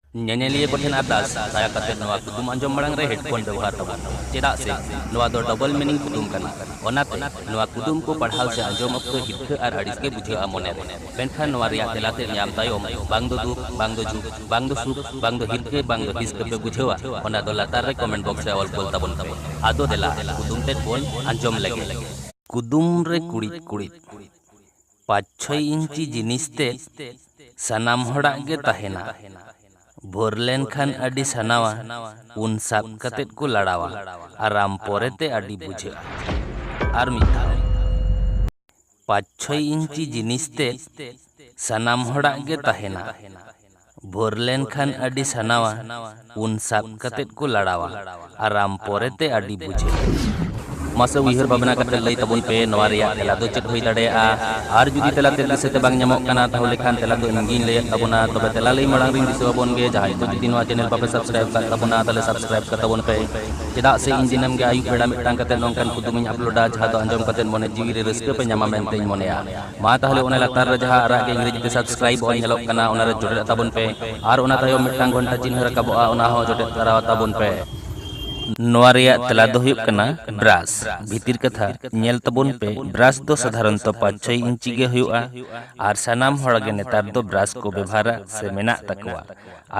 ᱧᱮᱧᱮᱞᱤᱭᱟᱹ ᱠᱚᱴᱷᱮᱱ ᱟᱨᱫᱟᱥ ᱫᱟᱭᱟ ᱠᱟᱛᱮ ᱱᱚᱣᱟ ᱠᱩᱫᱩᱢ ᱟᱸᱡᱚᱢ ᱢᱟᱲᱟᱝ ᱨᱮ ᱦᱮᱰᱯᱷᱳᱱ ᱵᱮᱣᱦᱟᱨ ᱛᱟᱵᱚᱱ ᱪᱮᱫᱟᱜ ᱥᱮ ᱱᱚᱣᱟ ᱫᱚ ᱰᱚᱵᱚᱞ ᱢᱤᱱᱤᱝ ᱠᱩᱫᱩᱢ ᱠᱟᱱᱟ ᱚᱱᱟᱛᱮ ᱱᱚᱣᱟ ᱠᱩᱫᱩᱢ ᱠᱚ ᱯᱟᱲᱦᱟᱣ ᱥᱮ ᱟᱸᱡᱚᱢ ᱚᱠᱛᱚ ᱦᱤᱨᱠᱷᱟᱹ ᱟᱨ ᱟᱹᱲᱤᱥ ᱜᱮ ᱵᱩᱡᱷᱟᱹᱜᱼᱟ ᱢᱚᱱᱮ ᱨᱮ ᱢᱮᱱᱠᱷᱟᱱ ᱱᱚᱣᱟ ᱨᱮᱭᱟᱜ ᱛᱮᱞᱟ ᱛᱮ ᱧᱟᱢ ᱛᱟᱭᱚᱢ ᱵᱟᱝ ᱫᱚ ᱫᱩᱠ ᱵᱟᱝ ᱫᱚ ᱡᱩᱠ ᱵᱟᱝ ᱫᱚ ᱥᱩᱠ ᱵᱟᱝ ᱫᱚ ᱦᱤᱨᱠᱷᱟᱹ ᱵᱟᱝ ᱫᱚ ᱦᱤᱥᱠᱟᱹ ᱯᱮ ᱵᱩᱡᱷᱟᱹᱣᱟ ᱚᱱᱟ ᱫᱚ ᱞᱟᱛᱟᱨ ᱨᱮ ᱠᱚᱢᱮᱱᱴ ᱵᱚᱠᱥ ᱨᱮ ᱚᱞ ᱠᱳᱞ ᱛᱟᱵᱚᱱ ᱯᱮ ᱟᱫᱚ ᱫᱮᱞᱟ ᱠᱩᱫᱩᱢ ᱛᱮᱫ ᱵᱚᱱ ᱟᱸᱡᱚᱢ ᱞᱮᱜᱮ ᱠᱩᱫᱩᱢ ᱨᱮ ᱠᱩᱲᱤᱫ ᱠᱩᱲᱤᱫ ᱯᱟᱸᱪ ᱪᱷᱚᱭ ᱤᱧᱪᱤ ᱡᱤᱱᱤᱥ ᱛᱮᱫ ᱥᱟᱱᱟᱢ ᱦᱚᱲᱟᱜ ᱜᱮ ᱛᱟᱦᱮᱸᱱᱟ᱾ ᱵᱷᱳᱨ ᱞᱮᱱ ᱠᱷᱟᱱ ᱟᱹᱰᱤ ᱥᱟᱱᱟᱣᱟ ᱩᱱ ᱥᱟᱵ ᱠᱟᱛᱮ ᱠᱚ ᱞᱟᱲᱟᱣᱟ ᱟᱨᱟᱢ ᱯᱚᱨᱮ ᱛᱮ ᱟᱹᱰᱤ ᱵᱩᱡᱷᱟᱹᱜᱼᱟ᱾ ᱟᱨ ᱢᱤᱫ ᱫᱷᱟᱣ᱾ ᱯᱟᱸᱪ ᱪᱷᱚᱭ ᱤᱧᱪᱤ ᱡᱤᱱᱤᱥ ᱛᱮᱫ ᱥᱟᱱᱟᱢ ᱦᱚᱲᱟᱜ ᱜᱮ ᱛᱟᱦᱮᱸᱱᱟ᱾ ᱵᱷᱳᱨ ᱞᱮᱱ ᱠᱷᱟᱱ ᱟᱹᱰᱤ ᱥᱟᱱᱟᱣᱟ ᱩᱱ ᱥᱟᱵ ᱠᱟᱛᱮᱫ ᱠᱚ ᱞᱟᱲᱟᱣᱟ ᱟᱨᱟᱢ ᱯᱚᱨᱮ ᱛᱮ ᱟᱹᱰᱤ ᱵᱩᱡᱷᱟᱹᱜᱼᱟ᱾ ᱢᱟᱥᱮ ᱩᱭᱦᱟᱹᱨ ᱵᱷᱟᱵᱽᱱᱟ ᱠᱟᱛᱮ ᱞᱟᱹᱭ ᱛᱟᱵᱚᱱ ᱯᱮ ᱱᱚᱣᱟ ᱨᱮᱭᱟᱜ ᱛᱮᱞᱟ ᱫᱚ ᱪᱮᱫ ᱦᱩᱭ ᱫᱟᱲᱮᱭᱟᱜᱼᱟ ᱟᱨ ᱡᱩᱫᱤ ᱛᱮᱞᱟ ᱛᱮᱫ ᱫᱤᱥᱟᱹ ᱛᱮ ᱵᱟᱝ ᱧᱟᱢᱚᱜ ᱠᱟᱱᱟ ᱛᱟᱦᱚᱞᱮ ᱠᱷᱟᱱ ᱛᱮᱞᱟ ᱫᱚ ᱤᱧ ᱜᱮᱧ ᱞᱟᱹᱭ ᱟᱫ ᱛᱟᱵᱚᱱᱟ ᱛᱚᱵᱮ ᱛᱮᱞᱟ ᱞᱟᱹᱭ ᱢᱟᱲᱟᱝ ᱨᱮᱧ ᱫᱤᱥᱟᱹ ᱟᱵᱚᱱ ᱜᱮ ᱡᱟᱦᱟᱸᱭ ᱠᱚ ᱡᱩᱫᱤ ᱱᱚᱣᱟ ᱪᱮᱱᱮᱞ ᱵᱟᱯᱮ ᱥᱟᱵᱽᱥᱠᱨᱟᱭᱤᱵᱽ ᱟᱠᱟᱫ ᱛᱟᱵᱚᱱᱟ ᱛᱟᱦᱚᱞᱮ ᱥᱟᱵᱽᱥᱠᱨᱟᱭᱤᱵᱽ ᱠᱟᱛᱟᱵᱚᱱ ᱯᱮ ᱪᱮᱫᱟᱜ ᱥᱮ ᱤᱧ ᱫᱤᱱᱟᱹᱢ ᱜᱮ ᱟᱹᱭᱩᱵ ᱵᱮᱲᱟ ᱢᱤᱫᱴᱟᱝ ᱠᱟᱛᱮ ᱱᱚᱝᱠᱟᱱ ᱠᱩᱫᱩᱢ ᱤᱧ ᱟᱯᱞᱳᱰᱟ ᱡᱟᱦᱟᱸ ᱫᱚ ᱟᱸᱡᱚᱢ ᱠᱟᱛᱮ ᱢᱚᱱᱮ ᱡᱤᱣᱤ ᱨᱮ ᱨᱟᱹᱥᱠᱟᱹ ᱯᱮ ᱧᱟᱢᱟ ᱢᱮᱱᱛᱮᱧ ᱢᱚᱱᱮᱭᱟ᱾ ᱢᱟ ᱛᱟᱦᱚᱞᱮ ᱚᱱᱟ ᱞᱟᱛᱟᱨ ᱨᱮ ᱡᱟᱦᱟᱸ ᱟᱨᱟᱜ ᱜᱮ ᱤᱝᱨᱮᱡᱤ ᱛᱮ ᱥᱟᱵᱥᱠᱨᱟᱭᱤᱵ ᱚᱞ ᱧᱮᱞᱚᱜ ᱠᱟᱱᱟ ᱚᱱᱟ ᱨᱮ ᱡᱚᱴᱮᱫ ᱛᱟᱵᱚᱱ ᱯᱮ ᱟᱨ ᱚᱱᱟ ᱛᱟᱭᱚᱢ ᱢᱤᱫᱴᱟᱝ ᱜᱷᱚᱱᱴᱟ ᱪᱤᱱᱦᱟᱹ ᱨᱟᱠᱟᱵᱚᱜᱼᱟ ᱚᱱᱟ ᱦᱚᱸ ᱡᱚᱴᱮᱫ ᱫᱷᱟᱨᱟᱣ ᱛᱟᱵᱚᱱ ᱯᱮ ᱱᱚᱣᱟ ᱨᱮᱭᱟᱜ ᱛᱮᱞᱟ ᱫᱚ ᱦᱩᱭᱩᱜ ᱠᱟᱱᱟ ᱵᱨᱟᱥ ᱵᱷᱤᱛᱤᱨ ᱠᱟᱛᱷᱟ ᱧᱮᱞ ᱛᱟᱵᱚᱱ ᱯᱮ ᱵᱨᱟᱥ ᱫᱚ ᱥᱟᱫᱷᱟᱨᱚᱱᱛᱚ ᱯᱟᱸᱪ ᱪᱷᱚᱭ ᱤᱧᱪᱤ ᱜᱮ ᱦᱩᱭᱩᱜᱼᱟ ᱟᱨ ᱥᱟᱱᱟᱢ ᱦᱚᱲ ᱜᱮ ᱱᱮᱛᱟᱨ ᱫᱚ ᱵᱨᱟᱥ ᱠᱚ ᱵᱮᱵᱷᱟᱨᱟ ᱥᱮ ᱢᱮᱱᱟᱜ ᱛᱟᱠᱚᱣᱟ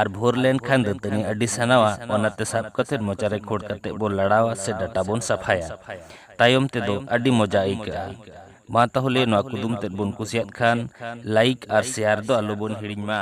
ᱟᱨ ᱵᱷᱳᱨ ᱞᱮᱱᱠᱷᱟᱱ ᱫᱟᱹᱛᱟᱹᱱᱤ ᱟᱹᱰᱤ ᱥᱟᱱᱟᱣᱟ ᱚᱱᱟᱛᱮ ᱥᱟᱵ ᱠᱟᱛᱮ ᱢᱚᱪᱟᱨᱮ ᱠᱷᱳᱲ ᱠᱟᱛᱮ ᱵᱚ ᱞᱟᱲᱟᱣᱟ ᱥᱮ ᱰᱟᱴᱟ ᱵᱚᱱ ᱥᱟᱯᱷᱟᱭᱟ ᱛᱟᱭᱚᱢ ᱛᱮᱫᱚ ᱟᱹᱰᱤ ᱢᱚᱡᱟ ᱟᱹᱭᱠᱟᱹᱜᱼᱟ ᱢᱟ ᱛᱟᱦᱚᱞᱮ ᱱᱚᱣᱟ ᱠᱩᱫᱩᱢ ᱛᱮᱫ ᱵᱚᱱ ᱠᱩᱥᱤᱭᱟᱫ ᱠᱷᱟᱱ ᱞᱟᱭᱤᱠ ᱟᱨ ᱥᱮᱭᱟᱨ ᱫᱚ ᱟᱞᱚᱵᱚᱱ ᱦᱤᱲᱤᱧ ᱢᱟ